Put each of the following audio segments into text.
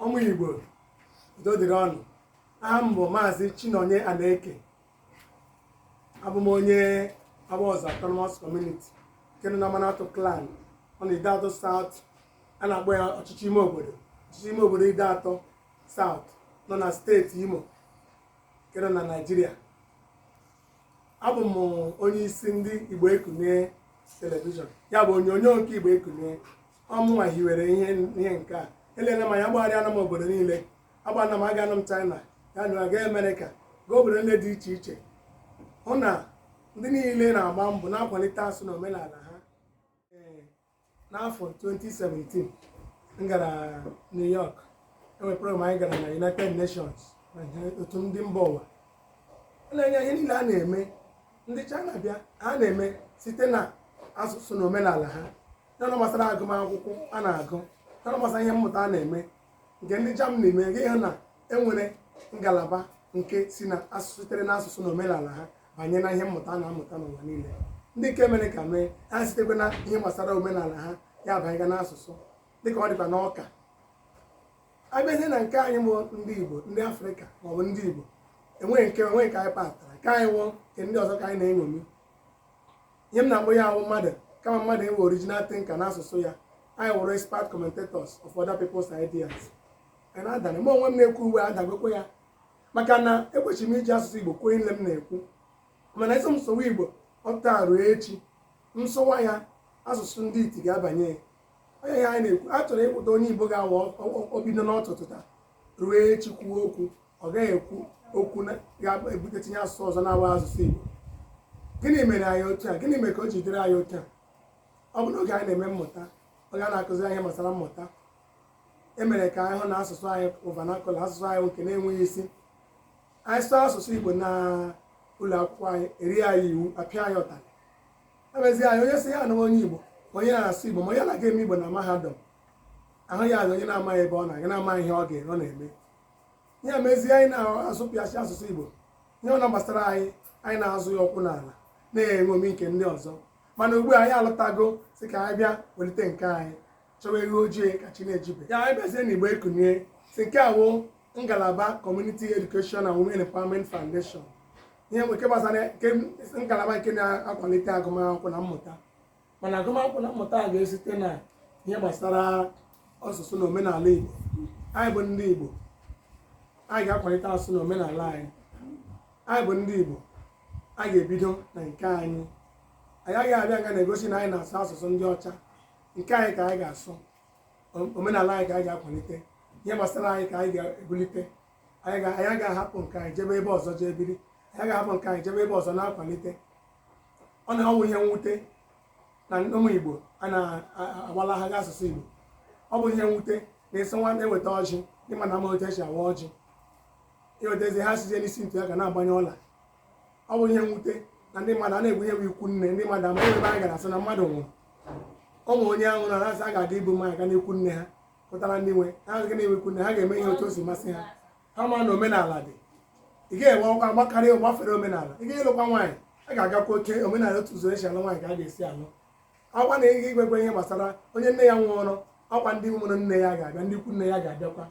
ụmụ igbo udo dịrị ụnụ aha m bụ maazị chinonye anaeke abụ m onye awaọzọ autonomous community nke nọ na amanatọ clan ọ nọ na ideato south a na-akpọ ya ọchịchị ime obodo ọchịchị ime obodo ideato south nọ na steeti imo nke nọ na naijiria abụ m onye isi ndị igbo ekunie telivishọn ya bụ onyonyo nke igbo ekunie ọ mụnwa hiwere ihe ihe nke a elele m anya agbagharịana m obodo niile agbana m agaana m china ya na aga amerịka gaa obodo niile dị iche iche hụ na ndị niile na-agba mbọ na-akwalite asụsụ na omenala ha Ee, n'afọ 2017 m gara new york enwere program anyị gara na united nations na ihe- otu ndị mba ụwa a na-enye ihe niile a na-eme ndị china bịa ha na-eme site na asụsụ na omenala ha n'ọnụ gbasara agụmakwụkwọ a na-agụ n'ọnụ gbasara ihe mmụta a na-eme nke ndị Germany mee gị hụ na enwere ngalaba nke si na asụsụ sitere na asụsụ na omenala ha banye na ihe mmụta a na-amụta n'ụwa niile ndị nke Amerịka mee ha sitekwa na ihe gbasara omenala ha ya abanyega n'asụsụ dịka ọ dịkwa n'ọka abịazie na nke anyị bụ ndị Igbo ndị Afrịka maọbụ ndị Igbo enweghị nke enweghị nke anyị patara nke anyị wụ nke ndị ọzọ ka anyị na-eṅomi ihe m na-akpọ ya wụ mmadụ kama mmadụ enwe original thinker n'asụsụ ya anyị wụrụ expert commentators of other people's ideas anyị na-adana mụ onwe m na-ekwu ugbu a adagokwa ya maka na ekwesịrị m iji asụsụ igbo kwuo ihe m na-ekwu mana asị m sụwa igbo taa ruo echi m sụwa ya asụsụ ndị iti ga-abanye onye ya anyị na-ekwu a chọrọ ịkwụta onye igbo ga-awa obido n'ọtụtụ taa ruo echi kwuo okwu ọ gaghị ekwu okwu ga-ebute tinye asụsụ ọzọ na-awụghị asụsụ Igbo gịnị mere anyị otu a gịnị mere ka o ji dịrị anyị otu a ọ bụ n'oge anyị na-eme mmụta oge a na-akụzi anyị gbasara mmụta e mere ka anyị hụ na asụsụ anyị wụ vernacular asụsụ anyị nke na-enweghị isi anyị sụọ asụsụ Igbo na ụlọ akwụkwọ anyị erie anyị iwu apịa anyị ụtarị emezie anyị onye sị ya wụ onye Igbo onye na-asụ Igbo ma onye na-aga eme Igbo na mahadum ahụ ya onye na-amaghị ebe ọ na-aga na-amaghị ihe ọ ga-eme ọ na-eme ya mezie anyị na-azọpịasị asụsụ igbo ihe ọ wụna gbasara anyị anyị na-azọ ya ụkwụ n'ala na-eṅomi nke ndị ọzọ mana ugbu a anyị alọtago sị ka anyị bịa welite nke anyị chọwa ewu ojii ka chi na-ejibeghị anyị bịazie na igbo ekunie sị nke a wụ ngalaba community education and women empowerment foundation ihe nke gbasara ngalaba nke na-akwalite agụmakwụkwọ na mmụta mana agụmakwụkwọ na mmụta a ga-esite na ihe gbasara asụsụ na omenala Igbo anyị bụ ndị Igbo anyị ga-akwalite asụsụ na omenala anyị anyị bụ ndị Igbo anyị ga-ebido na nke anyị anyị agaghị abịa nga na-egosi na anyị na-asụ asụsụ ndị ọcha nke anyị ka anyị ga-asụ omenala anyị ka anyị ga-akwalite ihe gbasara anyị ka anyị ga-ebulite anyị ga-ahapụ nke anyị jebe ebe ọzọ jee biri anyị ga-ahapụ nke anyị jebe ebe ọzọ na-akwalite ọ na-awụ ihe mwute na ụmụ Igbo a na-agbalagharị asụsụ Igbo ọ bụ ihe mwute na-esi nwa na-eweta ọjị ndị mmadụ ama otu esi awa ọjị iwetazi ha sizie n'isi ntu ya ga na-agbanye ọla ọ bụ ihe mwute na ndị mmadụ a na-egbu ihe bụ ikwu nne ndị mmadụ ama ebe anyị gara asị na mmadụ nwụrụ ụmụ onye ahụ na asị a ga-aga ibu mmanya ga n'ikwu nne ha pụtara ndị nwe ha agaghị na-enwe ikwu nne ha ga-eme ihe otu o si masị ha ha ma na omenala dị ị gaghị enwe ọkwa gbakarị gbafere omenala ị ga-alụkwa nwaanyị a ga-agakwa oke omenala otu ụzọ esi alụ nwaanyị ka a ga-esi alụ ọ kwa na ị ga-enwekwa ihe gbasara onye nne ya nwụrụ ọ kwa ndị mụrụ nne ya ga-abịa ndị ikwu nne ya ga-abịakwa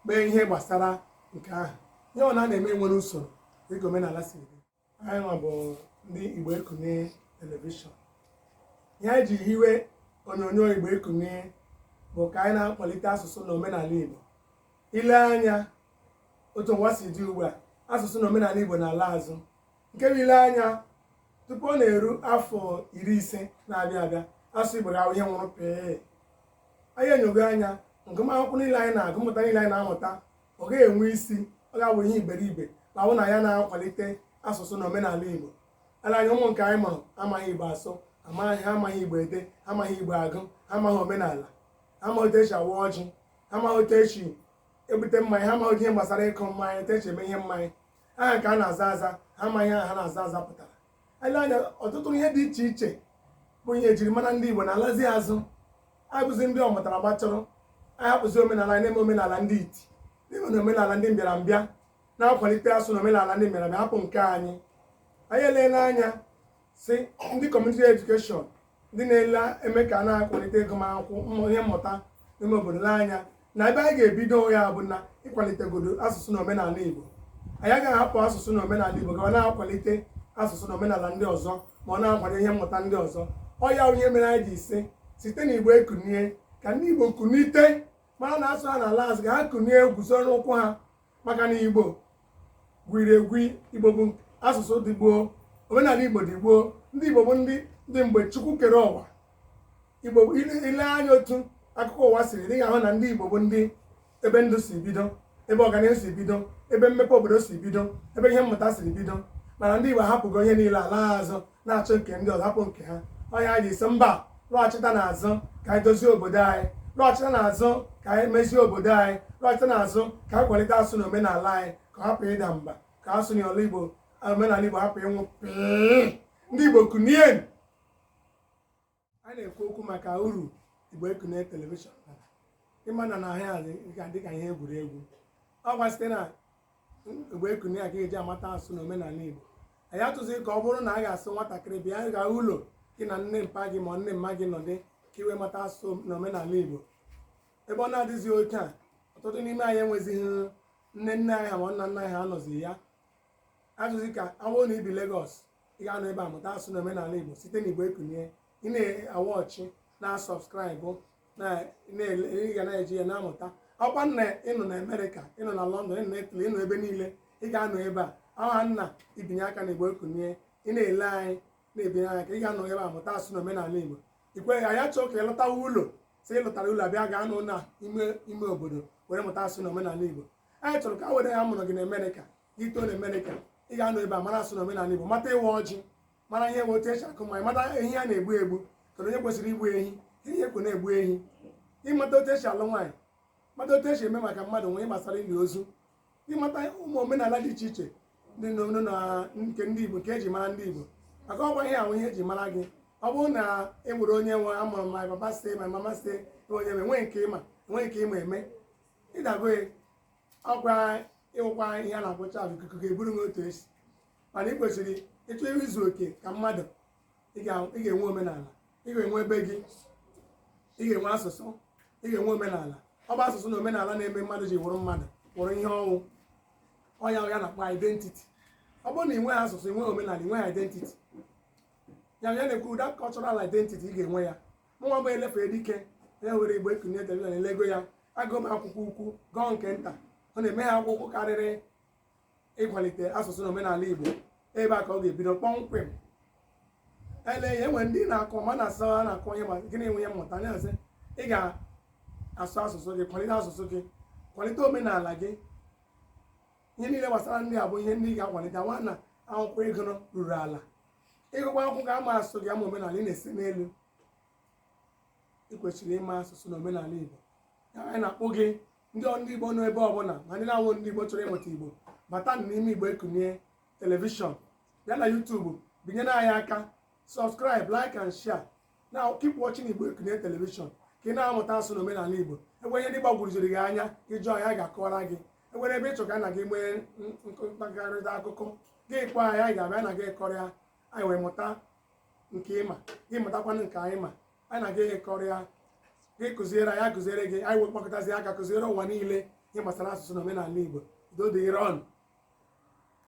mee ihe gbasara nke ahụ ihe ọ na na-eme nwere usoro dịka omenala si dị anyị nwa bụ ndị Igbo Ekunie telivishọn ihe anyị ji hiwe onyonyo Igbo Ekunie bụ ka anyị na-akwalite asụsụ na omenala Igbo ile anya otu ụwa si dị ugbu a asụsụ na omenala Igbo na-ala azụ nke bụ ile anya tupu ọ na-eru afọ iri ise na-abịa abịa asụsụ Igbo ga-awụ ihe nwụrụ pee anyị enyogo anya ngụmakwụkwọ niile anyị na-agụ mmụta niile anyị na-amụta ọ gaghị enwe isi ọ ga-awụ ihe iberibe ma ọ wụ na anyị na-akwalite asụsụ na omenala igbo ala anyị ụmụ nke anyị mụrụ amaghị igbo asụ ha amaghị igbo ede ha amaghị igbo agụ ha amaghị omenala ha amaghị otu esi awa ọjị ha amaghị otu esi ebute mmanya ha amaghị ihe gbasara ịkụ mmanya otu esi eme ihe mmanya aha ha na-aza aza ha amaghị aha ha na-aza aza pụtara ele anya ọtụtụ ihe dị iche iche bụ ihe ejiri mara ndị Igbo na-alazi azụ anyị bụzi ndị ọmụtara gbachọrọ anyị hapụzi omenala anyị na-eme omenala ndị iti na-eme na omenala ndị mbịarambịa na-akwalite asụsụ na omenala ndị mbịarambịa hapụ nke anyị anyị eleela anya sị ndị Community Education ndị na-ele ime ka a na-akwalite agụmakwụkwọ ihe mmụta n'ime obodo anya na ebe anyị ga-ebido ya bụ na ịkwalitegodo asụsụ na omenala Igbo anyị agaghị ahapụ asụsụ na omenala Igbo gawa na-akwalite asụsụ na omenala ndị ọzọ ma ọ na-akwado ihe mmụta ndị ọzọ ọ ya wụ ihe mere anyị ji sị site na Igbo Ekunie ka ndị Igbo kunite mara na asụsụ ha na-ala azụ ka ha kunie guzo n'ụkwụ ha maka na igbo gwiri egwi igbo bụ asụsụ dị gboo omenala igbo dị gboo ndị igbo bụ ndị dị mgbe chukwu kere ụwa igbo ile anya otu akụkọ ụwa siri dị ahụ na ndị igbo bụ ndị ebe ndụ si bido ebe ọganihu si bido ebe mmepe obodo si bido ebe ihe mmụta siri bido mana ndị igbo ahapụgo ihe niile ala azụ na-achọ nke ndị ọzọ hapụ nke ha ọ ya anyị ji sị mba lọghachita n'azụ ka anyị dozie obodo anyị lọghachita n'azụ ka anyị mezie obodo anyị lọghachita n'azụ ka anyị kwalite asụsụ na omenala anyị ka ọ hapụ ịda mba ka asụsụ na ọla igbo omenala igbo hapụ ịnwụ pịị ndị igbo kunie a na-ekwu okwu maka uru igbo ekunie telivishọn bara ị ma na na ihe a dị- ga- dịka ihe egwuregwu ọkwa site na igbo ekunie a ka eji amata asụsụ na omenala igbo anyị achọzi ka ọ bụrụ na a ga-asị nwatakịrị bịa gaa ụlọ gị na nne mpa gị ma nne mma gị nọdị ka i wee mata asụsụ na omenala igbo ebe ọ na-adịghịzi otu a ọtụtụ n'ime anyị enwezighị nne nne anyị ha ma nna nna anyị ha anọzi ya achọzi ka ọ bụrụ na i bi Lagos ị ga-anọ ebe a mụta asụsụ na omenala igbo site na igbo ekunie ị na-awatch ị na-asubscribe ị ga na-eji ya na-amụta ọkwa na ị nọ na amerịka ị nọ na lọndọn ị nọ na itali ị nọ ebe niile ị ga-anọ ebe a aha na i binye aka na igbo ekunie ị na-ele anyị na-ebinye aka ị ga-anọ ebe a mụta asụsụ na omenala igbo ikwe anyị achọọ ka ị lọtawa ụlọ sị ị lọtara ụlọ a bịa ga-anọ na ime obodo were mụta asụsụ na omenala igbo anyị chọrọ ka ọ wụrụ a mụrụ gị na amerịka gị too na amerịka ị ga-anọ ebe a mara asụsụ na omenala igbo mata ịwa ọjị mara ihe otu esi akụ mmanya mata ehi a na-egbu egbu kedu onye kwesịrị igbu ehi ihe a kwọ na-egbu ehi ịmata otu esi alụ nwaanyị mata otu esi eme ma mmadụ nwụọ gbasara ili ozu ịmata ụmụ omenala dị iche iche dị n'omenala nke ndị igbo nke eji mara ndị igbo maka ọkwa ihe ahụ ihe eji mara gị ọ bụrụ na e nwere onye nwe amụrụ my papa say my mama say onye nwe nwee nke ị ma nwee nke ị ma eme ị dago ọkwa ị wụkwa ihe a na-akpọ chaff ikuku ga-eburu m otu esi mana ị kwesịrị ị chọọ izu oke ka mmadụ ị ga-enwe omenala ị ga-enwe ebe gị ị ga-enwe asụsụ ị ga-enwe omenala ọ bụ asụsụ na omenala na-eme mmadụ ji wụrụ mmadụ wụrụ ihe ọ wụ ọ ya wụ ihe a na-akpọ identity ọ bụrụ na ị nweghị asụsụ ị nweghị omenala ị nweghị identity ya ya na-ekwu that cultural identity ị ga-enwe ya mụnwa bụ elefere dike ya were igbo ekunie telivishọn elego ya agụọ m akwụkwọ ukwu gụọ nke nta hụ na enweghị akwụkwọ karịrị ịkwalite asụsụ na omenala igbo ebe a ka ọ ga-ebido kpọmkwem ele ya e nwee ndị na-akọ ma na-asụ ha na-akọ ihe ma gị na-enwe ya mmụta anyị asị ị ga-asụ asụsụ gị kwalite asụsụ gị kwalite omenala gị ihe niile gbasara ndị a bụ ihe ndị ị ga-akwalite nwa na akwụkwọ a gụruru ala ị gụkwa akwụkwọ gị ama asụsụ gị ama omenala ị na-ese n'elu ị kwesịrị ịma asụsụ na omenala igbo ya anyị na-akpọku ndị ọ- ndị igbo nọ ebe ọbụla ma ndị na-awụghị ndị igbo chọrọ ịmụta igbo bata n'ime igbo ekunie telivishọn bịa na youtube binyere anyị aka subscribe like and share na keep watching igbo ekunie telivishọn ka ị na-amụta asụsụ na omenala igbo e nwee ihe ndị gbagwuruziri gị anya ị jụọ anyị a ga-akọwara gị e nwere ebe ị chọ ka na gị nwee mkparịta akụkọ gị kpọọ anyị anyị ga-abịa na gị kọrịa anyị wee mụta nke ị ma gị mụtakwanụ nke anyị ma anyị na gị kọrịa gị kụziere anyị akụziere gị anyị wee kpọkọtazi aka kụziere ụwa niile ihe gbasara asụsụ na omenala Igbo udo dịrị ụnụ